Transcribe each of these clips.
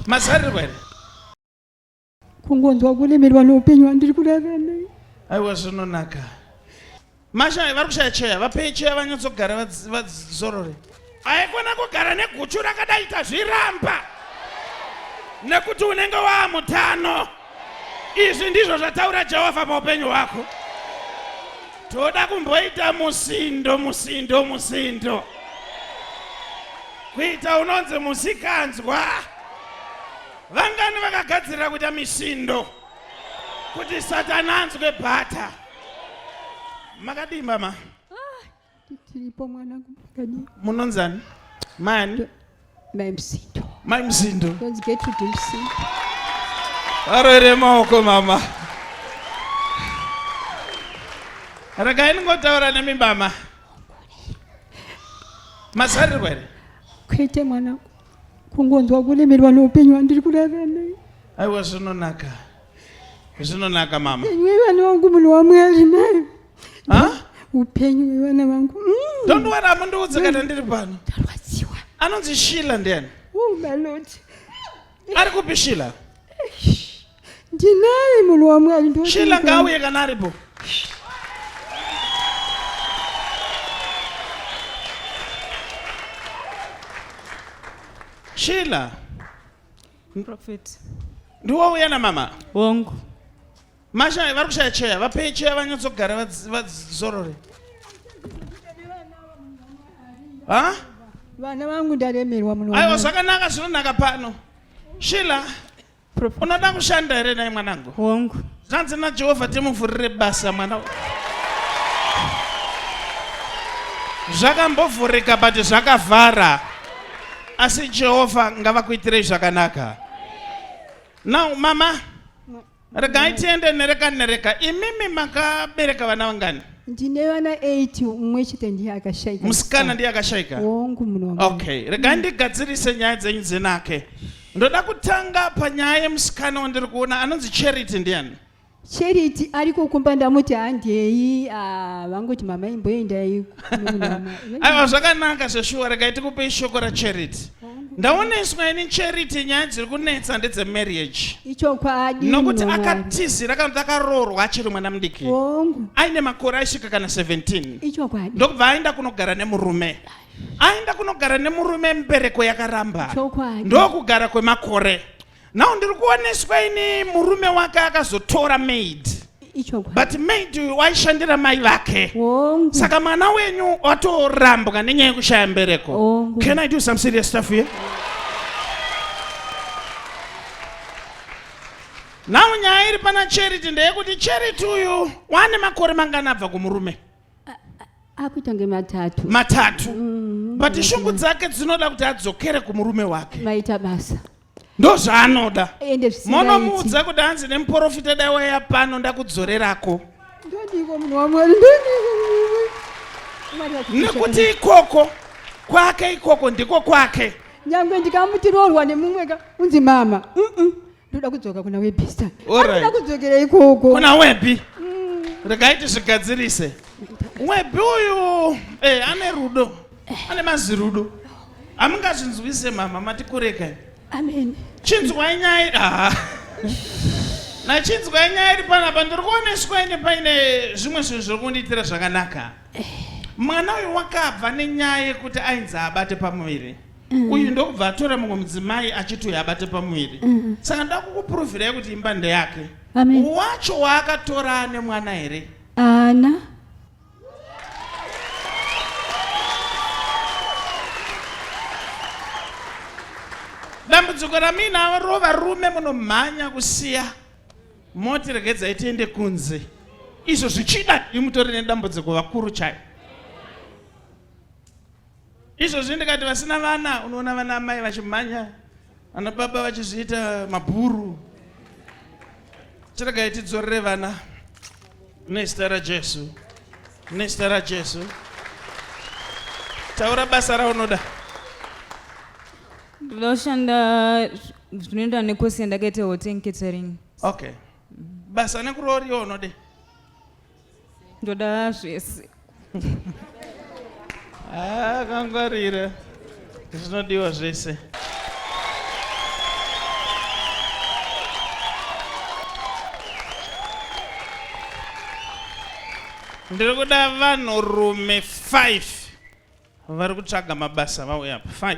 mazarirwa here kungonzwa kulemerwa noupenyu hwandiri kuraramei aiwa zvinonaka mashaya vari kushaya cheya vapei cheya vanyatsogara vadzorore aikona kugara neguchu rakadaita zviramba nekuti unenge waamutano Izvi ndizvo zvataura Jehovha paupenyu hwako. Toda kumboita musindo, musindo, musindo, kuita unonzi musikanzwa. Vangani vakagadzirira kuita misindo kuti Satani anzwe bhata? Makadii mama? tiripo mwana kumakadii munonzani mani mai msindo mai msindo ndonzi getrude msindo varoere maoko mama regai ndingotaura nemi mama mazarirwa here kwete mwana kungonzwa kulemerwa neupenyu wandiri kurarana aiwa zvinonaka zvinonaka mama iwe vana wangu munhu wamwari nayo upenyu wevana vangu mm. don't worry amundiudze kana ndiri pano ndarwadziwa anonzi shila ndiani oh my lord ari kupi shila ndinaye munhu wamwari shila ngauye kana aripo shila prophet ndiwouya namama wongu Masha vari kushaya cheya, vapei cheya vanyatsogara vadzorore. Ha? Vana vangu ndaremerwa muno. Aiwa zvakanaka zvinonaka pano. Shila. Unoda kushanda here naye mwanangu? Hongu. Zvanzi naJehovha timuvhurire basa mwana. Zvakambovhurika but zvakavhara. Asi Jehovha ngavakuitirei zvakanaka. Now mama Regai tiende nereka nereka. Imimi makabereka vana vangani? Ndine vana 8 umwe chete ndiye akashaika. Musikana ndiye akashaika. Wongu munhu wangu. Okay, regai ndigadzirise nyaya dzenyu dzenake. Ndoda kutanga panyaya yemusikana wandiri kuona anonzi Charity ndiani? Charity ariko kumba ndamuti handei ah, vangoti mama imboendai aiwa zvakanaka zveshuwa regai tikupei shoko racharity ndaoneswa ini charity nyaya dziri kunetsa ndedzemarriage ichokwadi nokuti akatizira akanoti akaroorwa achiri mwana mudiki aine makore aisvika kana 17 ichokwadi ndokubva aenda kunogara nemurume aenda kunogara nemurume mubereko yakaramba ndokugara kwemakore now ndiri kuoneswa ini murume wake akazotora maid but maid uyu waishandira mai vake saka mwana wenyu watorambwa nenyaya yekushaya mbereko can i do some serious stuff here now nyaya iri pana charity ndeyekuti charity uyu waane makore mangani abva kumurume akuita kunge matatu matatu mm, but shungu dzake dzinoda kuti adzokere kumurume wake maita basa ndozvaanoda monomuudza kuti hanzi nemuporofita dai waiya pano ndakudzorerako nekuti ikoko kwake ikoko ndiko kwake nyange ndikamuti roorwa nemumwe ka unzi mama ndoda kudzoka kuna webi star anoda kudzokera ikoko kuna webi mm. regai tizvigadzirise webi uyu eh, ane rudo eh. ane mazirudo hamungazvinzwise mama matikureka amen chinzwai nyaya ah. nachinzwai nyaya iri panapa ndiri kuoneswa ine paine zvimwe zvinhu zviri kundiitira zvakanaka eh. mwana uyu wakabva nenyaya yekuti ainzi abate pamuviri mm. uyu ndokubva atora mumwe mudzimai achiti uyo abate pamuviri mm. saka nda kukupuruvirai kuti imba ndeyake wacho waakatora ane mwana here ana dambudziko ramina ro varume munomhanya kusiya moti regedzai tiende kunze izvo zvichida imutori nedambudziko vakuru chayo izvozvi ndikati vasina vana unoona vana amai vachimhanya vana baba vachizviita mabhuru chiregai tidzorere vana nezita rajesu nezita rajesu taura basa raunoda ndinoshanda zvinoenda nekosi yandakaita hotel catering okay basa nekurooriwa unode ndoda zvese ah, kangwarira zvinodiwa zvese ndiri kuda vanhurume 5 vari kutsvaga mabasa vauya apa 5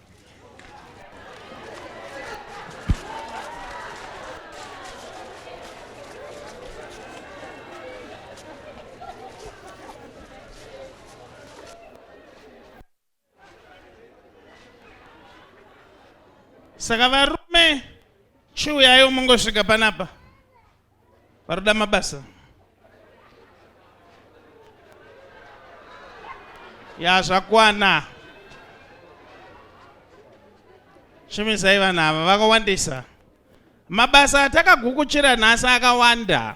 saka varume chiuyayo mungosvika panapa varikuda mabasa ya zvakwana shumisai vanhu ava vakawandisa mabasa atakagukuchira nhasi akawanda